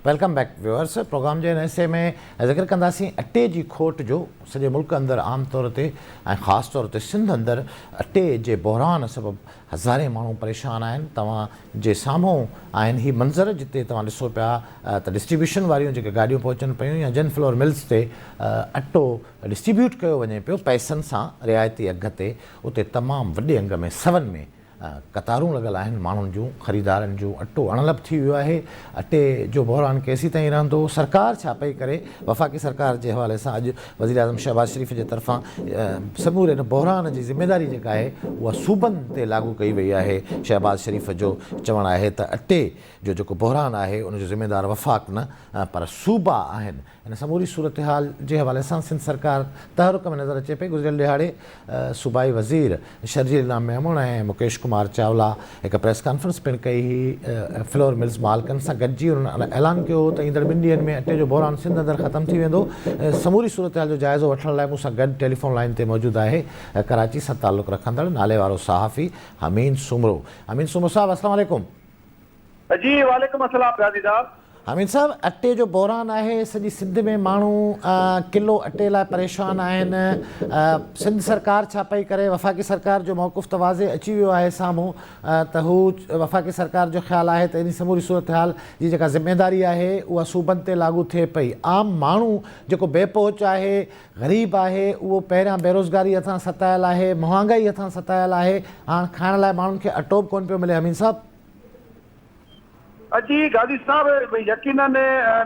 Welcome back viewers programme جي هن حصي ۾ ذڪر ڪنداسين اٽي جي کوٽ جو سڄي ملڪ اندر عام طور تي ۽ خاص طور تي سنڌ اندر اٽي جي بحران سبب هزارين ماڻهو پريشان آهن توهان جي سامهون آهن هي منظر جتي توهان ڏسو پيا ته ڊسٽريبيوشن واريون جيڪي گاڏيون پهچن پيون يا جن فلور ملز تي اٽو ڊسٽريبيوٽ ڪيو وڃي پيو پئسن سان رعايتي اگهه تي اتي تمام وڏي انگ ۾ سون ۾ قطارون لڳل آهن ماڻهن جون خريدارن جون اٽو اڻلڀ ٿي ويو آهي اٽي جو بحران ڪيسين تائين رهندو سرڪار ڇا پئي ڪري وفاقي سرڪار جي حوالي سان اڄ وزيراعظم شهباز شريف جي طرفان سموري ان بحران جي ذميواري جيڪا آهي اها صوبن تي لاڳو ڪئي وئي آهي، شهباز شريف جو چوڻ آهي ته اٽي جو جيڪو بحران آهي ان جو ذميوار وفاق نه پر صوبا آهن، ان سموري صورتحال جي حوالي سان سنڌ سرڪار تحرڪ ۾ نظر اچي پئي، گذريل ڏهاڙي. صوبائي وزير شرجيل رام ميمڻ ۽ مڪيش ڪمار چاولا هڪ پريس ڪانفرنس پڻ ڪئي هئي، فلور ملز مالڪن سان گڏجي انهن اعلان ڪيو هو ته ايندڙ ٻن ڏينهن ۾ اٽي جو بحران سنڌ اندر ختم ٿي ويندو، سموري صورتحال جو جائزو وٺڻ لاء مون سان گڏ ٽيليفون لائين تي موجود آهي ڪراچي سان تعلق رکندڙ ناليوارو صحافي حميد سومرو، حميد سومرو صاحب السلام عليڪم. جي وعليڪم السلام غازي صاحب. حميد صاحب اٽي جو بحران آهي سڄي سنڌ ۾ ماڻهو ڪلو اٽي لاء پريشان آهن سنڌ سرڪار ڇا پئي ڪري وفاقي سرڪار جو موقف ته واضح اچي ويو آهي سامهون ته هو وفاقي سرڪار جو خيال آهي ته انهي سموري صورتحال جي جيڪا ذميداري آهي اها صوبن تي لاڳو ٿئي پئي عام ماڻهو جيڪو بي پهچ آهي غريب آهي اهو پهريان بيروزگاري هٿان ستايل آهي مهانگائي هٿان ستايل آهي هاڻ کائڻ لاء ماڻهن کي اٽو به ڪونه پيو ملي حميد صاحب جي گادي صاحب يقينن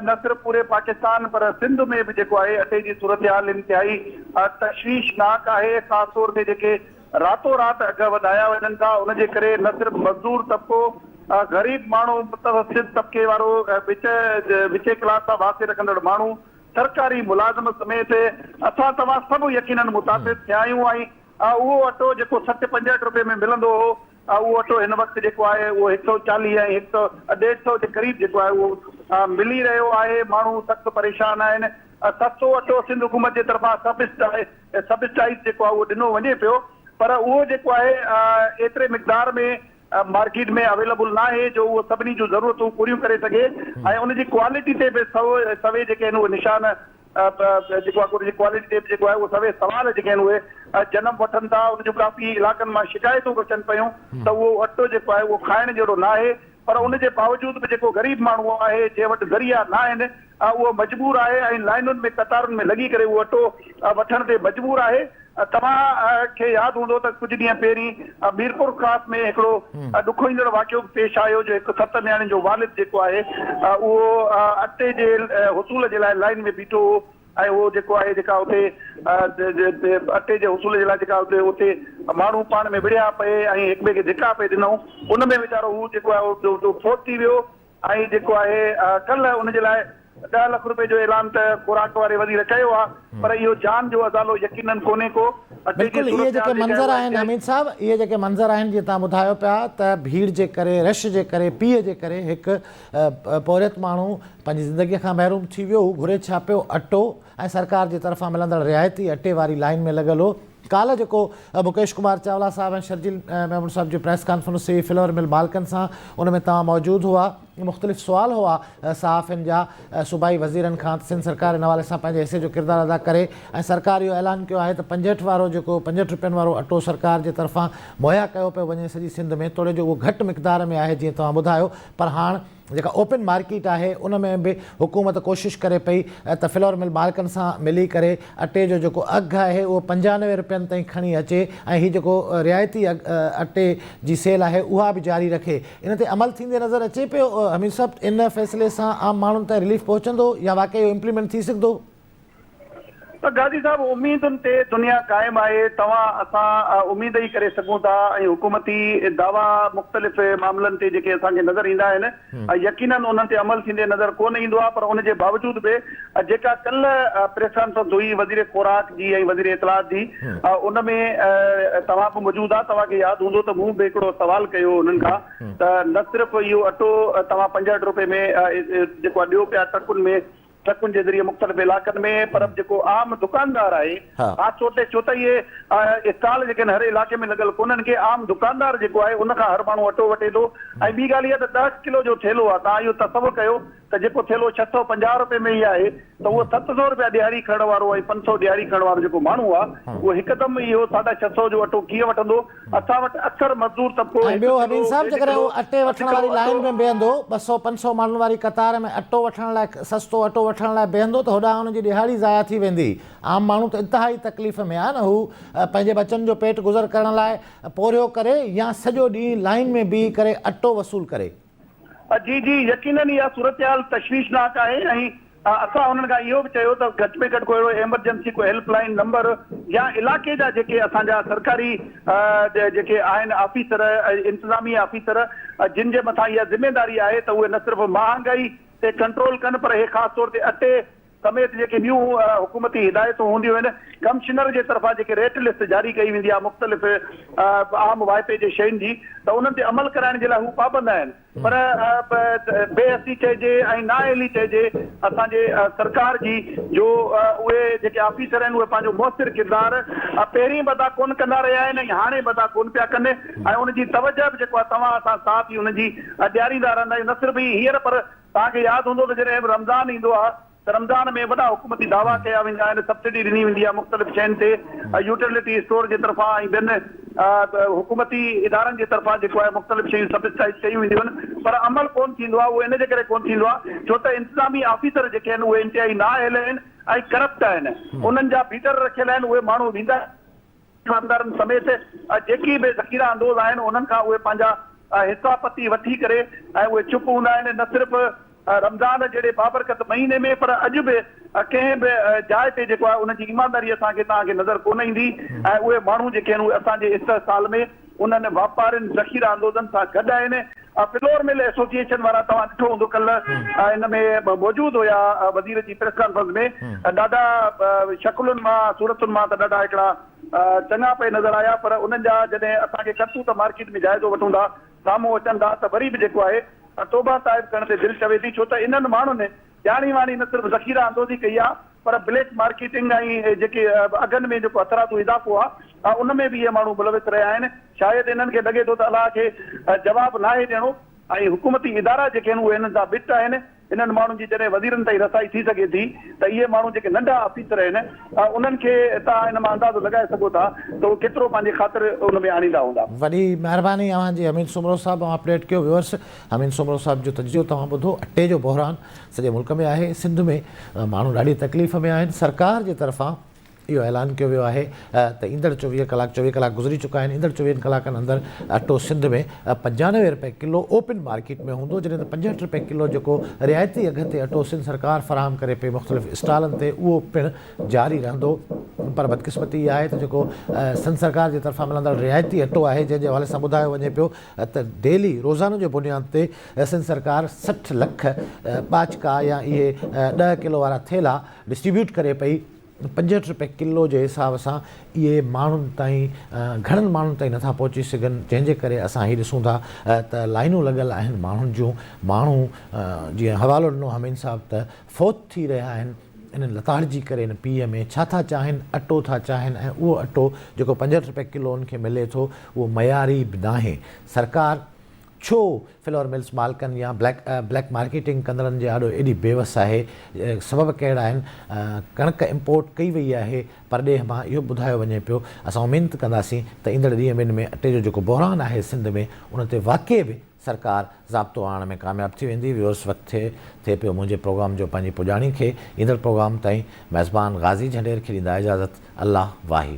نه صرف پوري پاڪستان پر سنڌ ۾ به جيڪو آهي اٽي جي صورتحال انتهائي تشويشناڪ آهي خاص طور تي جيڪي راتو رات اگهه وڌايا وڃن ٿا ان جي ڪري نه صرف مزدور طبقو غريب ماڻهو متوسط طبقي وارو وچ وچين ڪلاس سان واسطي رکندڙ ماڻهو سرڪاري ملازم سميت اسان توهان سڀ يقينن متاثر ٿيا آهيون ۽ اهو اٽو جيڪو سٺ پنجهٺ روپيه ۾ ملندو هو اهو اٽو هن وقت جيڪو آهي اهو هڪ سؤ چاليهه ۽ هڪ سؤ ڏيڍ سؤ جي قريب جيڪو آهي اهو ملي رهيو آهي ماڻهو سخت پريشان آهن سستو اٽو سنڌ حڪومت جي طرفان سبسڊائيز جيڪو آهي اهو ڏنو وڃي پيو پر اهو جيڪو آهي ايتري مقدار ۾ مارڪيٽ ۾ اويليبل نه آهي جو اهو سڀني جون ضرورتون پوريون ڪري سگهي ۽ ان جي ڪوالٽي تي به سوي جيڪي آهن اهي نشان جيڪو آهي ان جي ڪوالٽي تي به جيڪو آهي اهو سوين سوال جيڪي آهن اهي جنم وٺن ٿا ان جون ڪافي علائقن مان شڪايتون به اچن پيون ته اهو اٽو جيڪو آهي اهو کائڻ جهڙو نه آهي پر ان جي باوجود به جيڪو غريب ماڻهو آهي جنهن وٽ ذريعا نه آهن اهو مجبور آهي ۽ لائينن ۾ قطارن ۾ لڳي ڪري اهو اٽو وٺڻ تي مجبور آهي. توهان کي ياد هوندو ته ڪجهه ڏينهن پهرين ميرپور خاص ۾ هڪڙو ڏکو ايندڙ واقعو به پيش آيو جو هڪ ست نياڻين جو والد جيڪو آهي اهو اٽي جي حصول جي لاء لائين ۾ بيٺو هو ۽ اهو جيڪو آهي جيڪا اتي اٽي جي حصول جي لاء جيڪا اتي اتي ماڻهو پاڻ ۾ وڙهيا پئي ۽ هڪٻئي کي ڌڪا پئي ڏنائون ان ۾ ويچارو هو جيڪو آهي فوت ٿي ويو آهي جيڪو آهي ڪلهه ان جي لاء ڏهه لک روپي جو اعلان ته خوراڪ واري وزير ڪيو آهي پر اهو جان جو ازالو يقينن ڪونهي ڪو اٽي جي بلڪل اهي جيڪي منظر آهن حميد صاحب اهي جيڪي منظر آهن جيئن توهان ٻڌايو پيا ته ڀيڙ جي ڪري رش جي ڪري پيء جي ڪري هڪ پورهيت ماڻهو پنهنجي زندگي کان محروم ٿي ويو هو گهري ڇا پيو اٽو ۽ سرڪار جي طرفان ملندڙ رعايتي اٽي واري لائين ۾ لڳل هو ڪالهه جيڪو مڪيش ڪمار چاولا صاحب ۽ شرجيل ميمڻ صاحب جي پريس ڪانفرنس ٿي فلور مل مالڪن سان ان ۾ توهان موجود هئا مختلف سوال هئا صحافين جا صوبائي وزيرن کان ته سنڌ سرڪار ان حوالي سان پنهنجي حصي جو ڪردار ادا ڪري ۽ سرڪار اهو اعلان ڪيو آهي ته پنجهٺ وارو جيڪو پنجهٺ روپين وارو اٽو سرڪار جي طرفان مهيا ڪيو پيو وڃي سڄي سنڌ ۾ توڙي جو اهو گهٽ مقدار ۾ آهي جيئن توهان ٻڌايو پر هاڻ جيڪا اوپن مارڪيٽ آهي ان ۾ به حڪومت ڪوشش ڪري پئي ته فلور مل مالڪن سان ملي ڪري اٽي جو جيڪو اگهه آهي اهو پنجانوي رپين تائين کڻي اچي ۽ هي جيڪو رعايتي اٽي جي سيل آهي اها به جاري رکي ان تي عمل ٿيندي نظر اچي پيو حميد صاحب ان فيصلي سان عام ماڻهن تائين رليف پهچندو يا واقعي اهو امپليمينٽ ٿي سگهندو؟ پر گادي صاحب اميدن تي دنيا قائم آهي، توهان اسان اميد ئي ڪري سگهون ٿا ۽ حڪومتي دعوا مختلف معاملن تي جيڪي اسان کي نظر ايندا آهن يقينن انهن تي عمل ٿيندي نظر ڪونه ايندو آهي پر ان جي باوجود به جيڪا ڪلهه پريس ڪانفرنس هئي وزير خوراڪ جي ۽ وزير اطلاعات جي ان ۾ توهان به موجود آهي توهان کي ياد هوندو ته مون به هڪڙو سوال ڪيو انهن کان ته نه صرف اهو اٽو توهان پنجهٺ روپي ۾ جيڪو ڏيو پيا ٽرڪن ۾ ٽرڪن جي ذريعي مختلف علائقن ۾ پر جيڪو عام دڪاندار آهي خاص طور تي ڇو ته اهي اسٽال جيڪي آهن هر علائقي ۾ لڳل ڪونهن ڪي عام دڪاندار جيڪو آهي ان کان هر ماڻهو اٽو وٺي ٿو ۽ ٻي ڳالهه اها ته ڏهه ڪلو جو ٿيلهو آهي تان اهو تصور ڪيو ته جيڪو ٿيلهو ڇهه سؤ پنجاهه رپئي ۾ ئي آهي ته اهو ست سؤ رپيا ڏيهاڙي کڻڻ وارو ۽ پنج سؤ ڏيهاڙي کڻڻ وارو جيڪو ماڻهو آهي اهو هڪدم اهو ساڍا ڇهه سؤ جو اٽو ڪيئن وٺندو اسان وٽ اڪثر مزدور طبقو ۽ ٻيو حنين صاحب جيڪڏهن هو اٽي وٺڻ واري لائين ۾ بيهندو ٻه سؤ پنج سؤ ماڻهن واري قطار ۾ اٽو وٺڻ لاء سستو اٽو وٺڻ لاء بيهندو ته هوڏانهن هن جي ڏهاڙي ضايع ٿي ويندي عام ماڻهو ته انتهائي تڪليف ۾ آهي نه هو پنهنجي ٻچن جو پيٽ گذر ڪرڻ لاء پورهيو ڪري يا سڄو ڏينهن لائين ۾ بيهي ڪري اٽو وصول ڪري. جي جي يقينن اها صورتحال تشويشناڪ آهي ۽ اسان انهن کان اهو به چيو ته گهٽ ۾ گهٽ ڪو اهڙو ايمرجنسي ڪو هيلپ لائين نمبر يا علائقي جا جيڪي اسان جا سرڪاري جيڪي آهن آفيسر انتظامي آفيسر جن جي مٿان اها ذميداري آهي ته اهي نه صرف مهانگائي تي ڪنٽرول ڪن پر اهي خاص طور تي اٽي سميت جيڪي ٻيون حڪومتي هدايتون هونديون آهن، ڪمشنر جي طرفان جيڪي ريٽ لسٽ جاري ڪئي ويندي آهي مختلف عام وائپي جي شين جي ته انهن تي عمل ڪرائڻ جي لاء هو پابند آهن پر بي حسي چئجي ۽ نااهلي چئجي اسان جي سرڪار جي جو اهي جيڪي آفيسر آهن اهي پنهنجو موثر ڪردار پهرين به ادا ڪونه ڪندا رهيا آهن ۽ هاڻي به ادا ڪونه پيا ڪن ۽ ان جي توجه به جيڪو آهي توهان اسان ساٿ ئي ان جي ڏياريندا رهندا آهيون نه صرف هي هينئر پر توهان کي ياد هوندو ته جڏهن به رمضان ايندو آهي ته رمضان ۾ وڏا حڪومتي دعويٰ ڪيا ويندا آهن، سبسڊي ڏني ويندي آهي مختلف شين تي ۽ يوٽيلٽي اسٽور جي طرفان ۽ ٻين حڪومتي ادارن جي طرفان جيڪو آهي مختلف شيون سبسڊائيز ڪيون وينديون آهن پر عمل ڪونه ٿيندو آهي اهو ان جي ڪري ڪونه ٿيندو آهي ڇو ته انتظامي آفيسر جيڪي آهن اهي انتهائي نااهل آهن ۽ ڪرپٽ آهن انهن جا بيڊر رکيل آهن اهي ماڻهو ويندا ايماندارن سميت جيڪي به ذخيره اندوز آهن انهن کان اهي پنهنجا حصا پتي وٺي ڪري ۽ اهي چپ هوندا آهن نه صرف رمضان جهڙي بابرڪت مهيني ۾ پر اڄ به ڪنهن به جاء تي جيڪو آهي انهن جي ايمانداري اسان کي توهان کي نظر ڪونه ايندي ۽ اهي ماڻهو جيڪي آهن اهي اسان جي استحصال ۾ انهن واپارين ذخيره اندوزن سان گڏ آهن فلور مل ايسوسيئيشن وارا توهان ڏٺو هوندو ڪلهه ان ۾ موجود هيا وزير جي پريس ڪانفرنس ۾ ڏاڍا شڪلن مان صورتن مان ته ڏاڍا هڪڙا چڱا پئي نظر آيا پر انهن جا جڏهن اسان کي ڪرتوت مارڪيٽ ۾ جائزو وٺون ٿا سامهون اچن ٿا ته وري به جيڪو آهي توبه صاحب ڪرڻ تي دل چوي ٿي ڇو ته انهن ماڻهن ڄاڻي واڻي نه صرف ذخيره اندوزي ڪئي آهي پر بليڪ مارڪيٽنگ ۽ جيڪي اگهن ۾ جيڪو اٿرادو اضافو آهي ان ۾ به اهي ماڻهو ملوث رهيا آهن، شايد انهن کي لڳي ٿو ته الله کي جواب ناهي ڏيڻو ۽ حڪومتي ادارا جيڪي آهن اهي انهن سان ٻٽ آهن، انهن ماڻهن جي جڏهن وزيرن تائين رسائي ٿي سگهي ٿي ته اهي ماڻهو جيڪي ننڍا آفيسر آهن انهن کي توهان ان مان اندازو لڳائي سگهو ٿا ته اهي ڪيترو پنهنجي خاطر ان ۾ آڻيندا هوندا. وڏي مهرباني اوهان جي امين سومرو صاحب اوهان اپڊيٽ ڪيو ويورس. امين سومرو صاحب جو تجزيو توهان ٻڌو، اٽي جو بحران سڄي ملڪ ۾ آهي، سنڌ ۾ ماڻهو ڏاڍي تڪليف ۾ آهن، سرڪار جي طرفان اهو اعلان ڪيو ويو آهي ته ايندڙ چوويهه ڪلاڪ چوويهه ڪلاڪ گذري چڪا آهن ايندڙ چوويهن ڪلاڪن اندر اٽو سنڌ ۾ پنجانوي رپئي ڪلو اوپن مارڪيٽ ۾ هوندو جڏهن ته پنجهٺ رپئي ڪلو جيڪو رعايتي اگهه تي اٽو سنڌ سرڪار فراهم ڪري پئي مختلف اسٽالن تي اهو پڻ جاري رهندو پر بدقسمتي اها آهي ته جيڪو سنڌ سرڪار جي طرفان ملندڙ رعايتي اٽو آهي جنهن جي حوالي سان ٻڌايو وڃي پيو ته ڊيلي، روزانو، جي بنياد تي سنڌ سرڪار سٺ لک ٻاچڪا يا اهي ڏهه ڪلو وارا ٿيلها ڊسٽريبيوٽ ڪري پئي، پنجهٺ رپئي ڪلو جي حساب سان اهي ماڻهن تائين گهڻن ماڻهن تائين نٿا پهچي سگهن جنهن جي ڪري اسان هي ڏسون ٿا ته لائينون لڳل آهن ماڻهن جون ماڻهو جيئن حوالو ڏنو همين صاحب ته فوت ٿي رهيا آهن. انهن لتاڙجي ڪري هن پيء ۾ ڇا ٿا چاهين؟ اٽو ٿا چاهين ۽ اهو اٽو جيڪو پنجهٺ رپئي ڪلو هن کي ملي ٿو اهو معياري به ناهي. سرڪار ڇو فلور ملز مالڪن يا بليڪ بليڪ مارڪيٽنگ ڪندڙن جي آڏو ايڏي بي وس آهي؟ سبب ڪهڙا آهن؟ ڪڻڪ امپورٽ ڪئي وئي آهي پرڏيهه مان اهو ٻڌايو وڃي پيو. اسان امينت ڪنداسين ته ايندڙ ڏينهن ۾ اٽي جو جيڪو بحران آهي سنڌ ۾ ان تي واقعي به سرڪار ضابطو آڻڻ ۾ ڪامياب ٿي ويندي، ويوس وقت ٿئي ٿئي پيو منهنجي پروگرام جو پنهنجي پڄاڻي کي ايندڙ پروگرام تائين ميزبان غازي جهنڊير کي ڏيندا اجازت الله واهي.